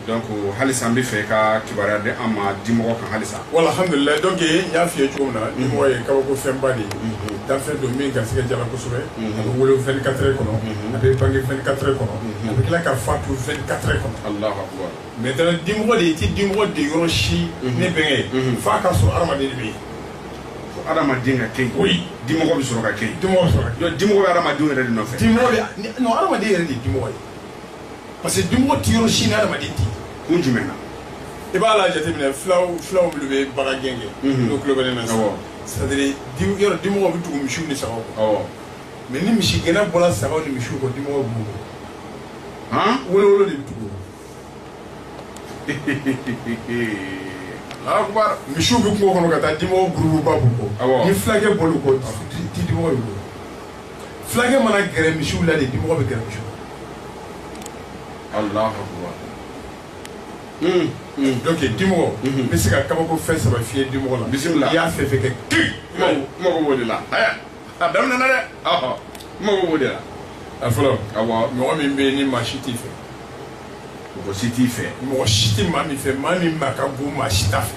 donc halisa an bɛ fɛ ka kibaruya di an ma dimɔgɔ kan halisa wala alhamdulilayi donc n y'a f'i ye cogo min na dimɔgɔ ye kabako fɛnba de ye danfɛn don min garisigɛ diyara kosɛbɛ a bɛ wolo 24 heures kɔnɔ a bɛ bange 24 heures kɔnɔ a bɛ tila ka fatu 24 heures kɔnɔ alahu akubar maintenant dimɔgɔ de i tɛ dimɔgɔ de yɔrɔ si ne bɛnkɛ ye f'a ka sɔrɔ hadamaden de bɛ yen fo hadamaden ka kɛ yen Oui. dimɔgɔ bɛ sɔrɔ ka kɛ yen dimɔgɔ bɛ sɔrɔ ka kɛ. Donc, dimɔgɔ bɛ hadamadenw yɛrɛ de nɔfɛ dimɔgɔ bɛ non hadamaden yɛrɛ de ye dimɔgɔ ye parce que dimɔgɔ ti yɔrɔ si ni adamaden ti kun jumɛn na i b'a la jateminɛ fulaw fulaw minnu bɛ bagan gɛn kɛ mhm. n'o tulo bɛ ne na sisan c'est à dire yɔrɔ dimɔgɔ bɛ tugu misiw ni sagaw kɔ mais ni misigɛnna bɔra sagaw ni misiw kɔ dimɔgɔ b'u kɔ wolowolo de bɛ tugu akubar misiw bɛ kungo kɔnɔ ka taa dimɔgɔ gurupuba b'u kɔ ni fulakɛ bɔr'u kɔ ti dimɔgɔ b'u kɔ fulakɛ mana gɛrɛ misiw la de dimɔgɔ bɛ gɛrɛ misiw la alahu akubar hmm, hmm. donc dimɔgɔ n bɛ se ka kabako fɛn saba f'i ye dimɔgɔ la bisimila i y'a fɛn fɛn kɛ kiri mago b'o de la a daminɛ na dɛ mago b'o de la a fɔlɔ awɔ mɔgɔ min bɛ yen ni maa si t'i fɛ mɔgɔ si t'i fɛ mɔgɔ si tɛ maa min fɛ maa min ma ka go maa si t'a fɛ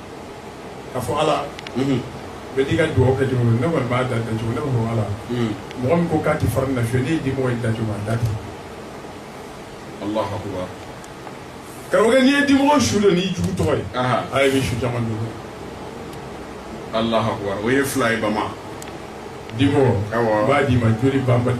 k'a fɔ ala bɛɛ n'i ka dugawu kɛ cogo ne kɔni b'a da cogo ne b'a fɔ ala mɔgɔ min ko k'a tɛ fara na fiye ne ye dimɔgɔ in da cogo a da ten alahu akubar karamɔgɔkɛ n'i ye dimɔgɔ su don n'i jugu tɔgɔ ye a yɛrɛ bɛ su caman don alahu akubar o ye fila ye bama dimɔgɔ b'a d'i ma joli banbali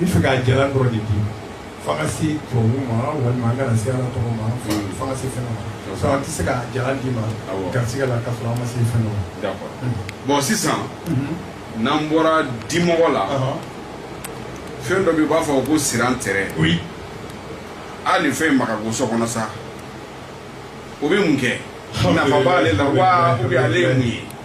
N bɛ fɛ k'a jalan dɔrɔn de di fo an ka se tubabu ma walima an kana se ala tɔgɔ ma fo an ka se fɛn dɔ ma sinon an tɛ se k'a jalan d'i ma Awɔ. garisigɛ la k'a sɔrɔ an ma se fɛn dɔ ma. D'accord. Bon sisan n'an bɔra dimɔgɔ la Ɔhɔn. fɛn dɔ bɛ yen u b'a fɔ ko sirantɛrɛ Oui. a nin fɛn in ma ka go so kɔnɔ sa o bɛ mun kɛ nafa b'ale la wa ou bien ale ye mun ye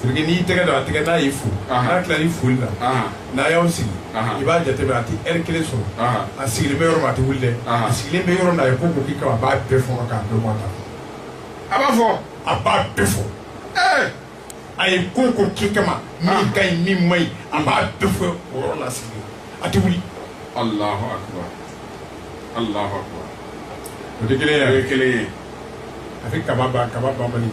Parce que n'i y'i tɛgɛ don a tɛgɛ n'a y'i fo Anhan n'a tilal'i foli la Anhan n'a y'aw sigi Anhan i b'a jateminɛ a tɛ heure 1 sɔrɔ Anhan a sigilen bɛ yɔrɔ min a tɛ wuli dɛ Anhan a sigilen bɛ yɔrɔ min na a ye ko o ko k'i kama a b'a bɛɛ fɔɔnɔ k'a bɛɛ bɔ a da kɔnɔ a b'a fɔ a b'a bɛɛ fɔ ee a ye ko o ko k'i kama min ka ɲi min man ɲi a b'a bɛɛ fɔ o yɔrɔ la a sigilen a tɛ wuli Alahu akibar Alahu akibar o tɛ kelen ye o ye kelen ye a bɛ kaba ban kaba banbali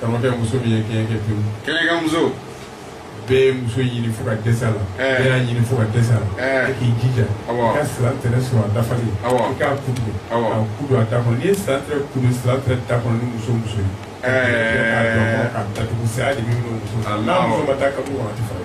karamɔgɔkɛ muso min ye kɛɲɛ kɛ pewu kɛɲɛ ka muso bɛɛ muso ɲini fo ka dɛsɛ a la bɛɛ y'a ɲini fo ka dɛsɛ a la e k'i jija i ka sirantɛrɛ sɔrɔ a dafalen i k'a kudu k'a kudu a da kɔnɔ n'i ye sirantɛrɛ kudu sirantɛrɛ da kɔnɔ ni muso muso ye k'a dɔn ka datugu saya de bɛ minɛ muso n'a muso ma taa kaburu a tɛ fara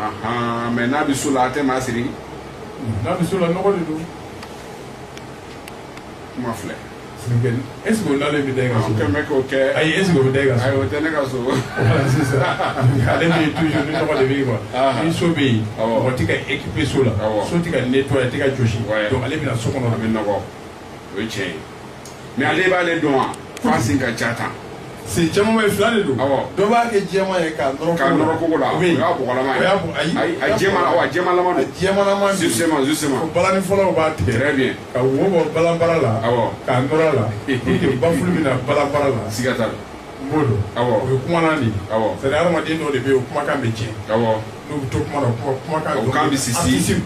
ahan mais n'a bɛ so la a tɛ maa siri n'a bɛ so la nɔgɔ de don kuma filɛ sinikɛli est ce que o n'ale bɛ da i ka so kɛmɛ bɛ k'o kɛ ayi est ce que o bɛ da i ka so ayi o tɛ ne ka so sisan ale bɛ yen toujours ni nɔgɔ de bɛ yen quoi ni so bɛ yen mɔgɔ tɛ ka équiper so la so tɛ ka nettoyer a tɛ ka jɔsi donc ale bɛ na so kɔnɔ a bɛ nɔgɔ o ye tiɲɛ ye mais ale b'ale dɔn wa f'a sen ka ca tan si caman ye fila de don dɔ b'a kɛ jɛman ye k'a nɔrɔ kogo la ayi jɛma la ayi jɛma balani fɔlaw b'a tigɛ bien ka wo bɔ balanbara la k'a nɔrɔ a la bafulu bɛ na balanbara la siga t'a la n b'o dɔn o ye kumalan de ye c'est à dire hadamaden dɔw de bɛ yen o kumakan bɛ tiɲɛ n'u bɛ to kuma na kumakan bɛ sisi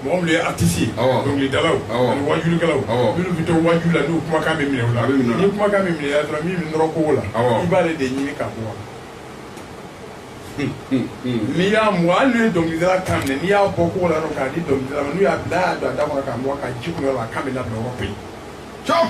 mɔgɔ minnu ye artiste ye awɔ dɔnkilidalaw awɔ ani wajulikɛlaw awɔ minnu bɛ to waju la n'u kumakan bɛ minɛ u la a bɛ minɛ ni kumakan bɛ minɛ u la dɔrɔn min bɛ nɔrɔ kogo la awɔ i b'ale de ɲini k'a bɔ n'i y'a mɔ hali n'u ye dɔnkilidala kan minɛ n'i y'a bɔ kogo la dɔrɔn k'a di dɔnkilidala ma n'u y'a bila a y'a don a da kɔnɔ k'a mɔ k'a ji kunu yɔrɔ la a kan bɛ labila yɔrɔ bɛɛ cɔp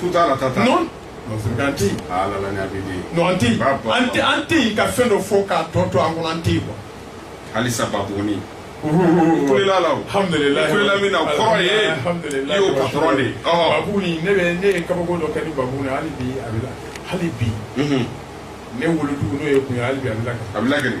tout temps ratata non an tɛ yen ah, non an tɛ yen an tɛ an tɛ yen ka fɛn dɔ fɔ k'a tɔ to an kɔnɔ an tɛ yen quoi halisa babuguni kulela la o alhamdulilayi kulela min na o kɔrɔ ye i y'o patron de ye babuguni ne bɛ ne ye kabako dɔ kɛ ni babuguni hali bi a bɛ la hali bi ne wolodugu n'o ye kun ye hali bi a bɛ lakali a bɛ lakali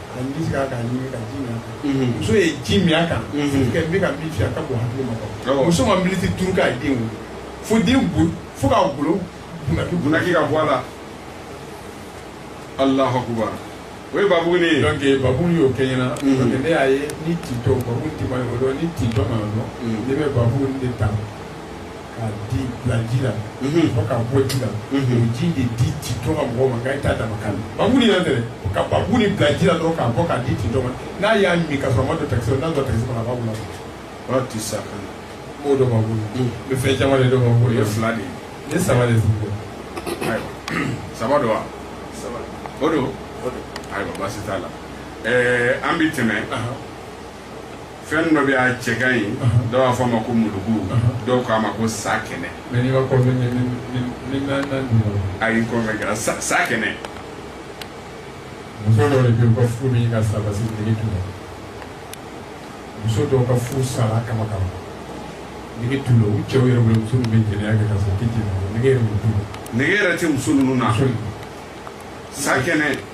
muso ye ji min a kan bɛ ka min fi a ka bon hakili ma kɔ muso ma miniti duuru k'a den wolo fo den bo fo k'a golo bunaki bunaki ka bɔ a la alahu akubar o ye babunin ye donc babunin y'o kɛ n ɲɛna donc ne y'a ye ni tintɔ babu ti ma yɔrɔ dɔn ni tintɔ ma yɔrɔ dɔn ne bɛ babunin de ta k'a di bila ji la fo k'a bɔ ji la o ji de di tintɔ ka mɔgɔw ma nka i t'a dama kan babunin yɛrɛ tɛ dɛ ka babunin bila ji la dɔrɔn k'a bɔ k'a di tintɔ ma n'a y'a min ka sɔrɔ a ma don takisi la n'a don takisi kɔnɔ a b'a wolo a b'a ti sa kan o dɔn babu la n bɛ fɛn caman de dɔn babu la o ye fila de ye ne saba de tun bɛ ayiwa saba don wa saba o don ayiwa baasi t'a la ɛɛ an bɛ tɛmɛ fɛn dɔ bɛ a cɛ ka ɲi dɔw b'a fɔ a ma ko mulugu dɔw k'a ma ko sakɛnɛ ayi kɔfɛ kɛra sa sakɛnɛ muso dɔw de bɛ yen u ka furu bɛ ɲini ka sa parce que nege t'u la muso dɔw ka furu sara kaban kaban nege t'u la u cɛw yɛrɛ bolo muso ninnu bɛ jɛnɛya kɛ ka sɔrɔ u tɛ jɛnɛya nege yɛrɛ t'u la nege yɛrɛ tɛ muso ninnu na sakɛnɛ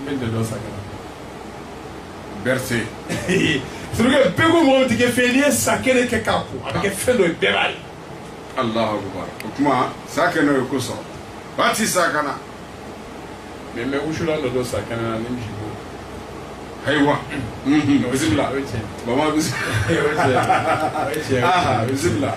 n bɛ dɛdɔ sakɛnɛ berete surukɛ bɛɛ ko mɔgɔ tɛ kɛ fɛn n'i ye sakɛnɛ kɛ k'a ko a bɛ kɛ fɛn dɔ ye bɛɛ b'a ye alahu akubar o tuma sakɛnɛ ye ko sɔrɔba ti sakɛnɛ na mais n bɛ wusulan dɔ dɔn sakɛnɛ na ni misi bo ayiwa bisimila bama bisimila bisimila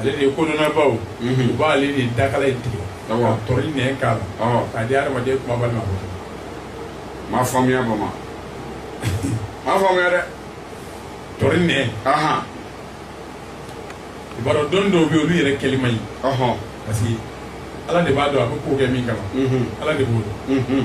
ale de ye kodɔnnabaw u b'ale de dakala in tigɛ ka tɔri nɛn k'a la k'a di adamaden kumabali ma m'a faamuya bama m'a faamuya dɛ tɔri nɛn i b'a dɔn dɔnni dɔw bɛ yen olu yɛrɛ kɛli man ɲi parce que ala de b'a dɔn a bɛ ko kɛ min kama ala de b'o dɔn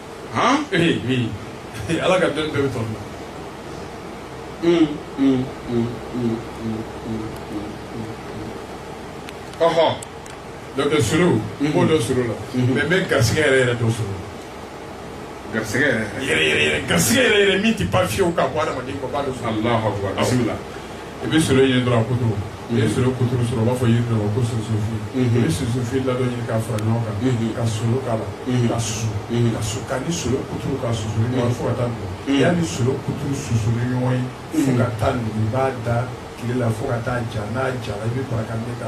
han ee min ala ka dɔnni bɛɛ bɛ tɔn na ɔhɔ donc solo n b'o dɔn solo la mais n bɛ garisɛgɛ yɛrɛ yɛrɛ dɔn solo garisɛgɛ yɛrɛ yɛrɛ garisɛgɛ yɛrɛ yɛrɛ min tɛ pan fiyewu ka bɔ adamaden kɔ b'a dɔn solo alahu akubar bisimila i bɛ solo ɲini dɔrɔn a kuturu n'i ye solo kuturu sɔrɔ u b'a fɔ yiri dɔ ma ko sunsunfin i bɛ sunsunfin ladɔn ɲini k'a fara ɲɔgɔn kan ka solo k'a la ka susu ka su k'a ni solo kuturu ka susu ni ɲɔgɔn fo ka taa nugu y'a ni solo kuturu susu ni ɲɔgɔn ye fo ka taa nugu i b'a da tile la fo ka taa ja n'a jara i bɛ bara ka ne ka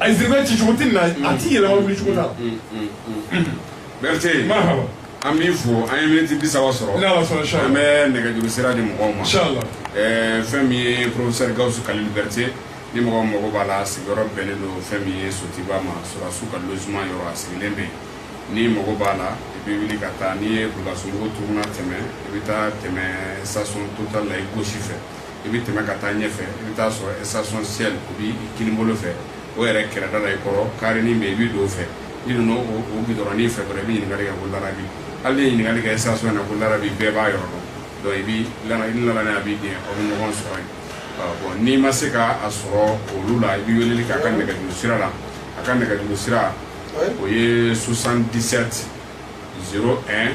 a ye siribe ci cogo tɛ na a t'i yɛlɛma wuli cogo la berete an b'i fo an ye miniti bi saba sɔrɔ an bɛ nɛgɛjuru sira di mɔgɔw ma fɛn min ye professeur gawusu kalilu berete ni mɔgɔ mago b'a la sigiyɔrɔ bɛnnen don fɛn min ye sotuba ma sɔrɔdasiw ka logement yɔrɔ a sigilen bɛ yen n'i mago b'a la i bɛ wuli ka taa n'i ye bulkasunbugu tournant tɛmɛ i bɛ taa tɛmɛ station total la i gauche fɛ i bɛ tɛmɛ ka taa ɲɛfɛ i bɛ taa sɔrɔ station shell o b'i kininbolo fɛ o yɛrɛ kɛrɛda la i kɔrɔ karenin bɛ yen i bɛ don o fɛ i donna o gudɔrɔnnin fɛ dɔrɔn i bɛ ɲininkali kɛ ko larabi hali n'i ye ɲininkali kɛ station na ko larabi bɛɛ b'a yɔrɔ dɔn donc i bɛ i nana a b'i gɛn aw bɛ ɲɔgɔn sɔrɔ yen bon n'i ma se ka a sɔrɔ olu la i bɛ weleli k'a ka nɛgɛjuru sira la a ka nɛgɛjuru sira o ye 77 01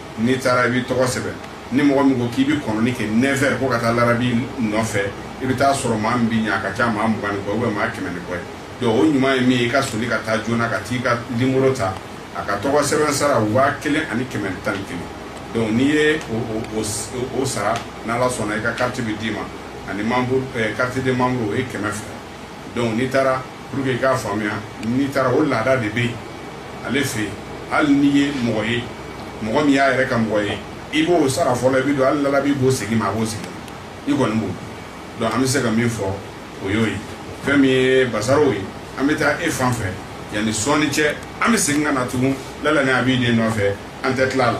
n'i taara i b'i tɔgɔ sɛbɛn ni mɔgɔ min ko k'i bɛ kɔnɔni kɛ neuf heures ko ka taa larabi nɔfɛ i bɛ taa sɔrɔ maa min b'i ɲɛ a ka ca maa mugan ni kɔ ou bien maa kɛmɛ ni kɔ ye donc o ɲuman ye min ye i ka soli ka taa joona ka t'i ka nimoro ta a ka tɔgɔ sɛbɛn sara waa kelen ani kɛmɛ ni tan ni kelen donc n'i ye o sara n'ala sɔnna i ka carte bɛ d'i ma ani membre carte de membre o ye kɛmɛ fila dɔnku n'i taara pour que i k'a faamuya n'i taara o laada de bɛ yen ale fɛ yen hali n'i ye mɔgɔ ye mɔgɔ min y'a yɛrɛ ka mɔgɔ ye i b'o sara fɔlɔ i bɛ don hali lalabi b'o segin i ma a b'o segin i kɔni b'o dɔnku an bɛ se ka min fɔ o y'o ye fɛn min ye basaro ye an bɛ taa e fan fɛ yanni sɔɔni cɛ an bɛ segin ka na tugun lala ni abi den nɔfɛ an tɛ tila a la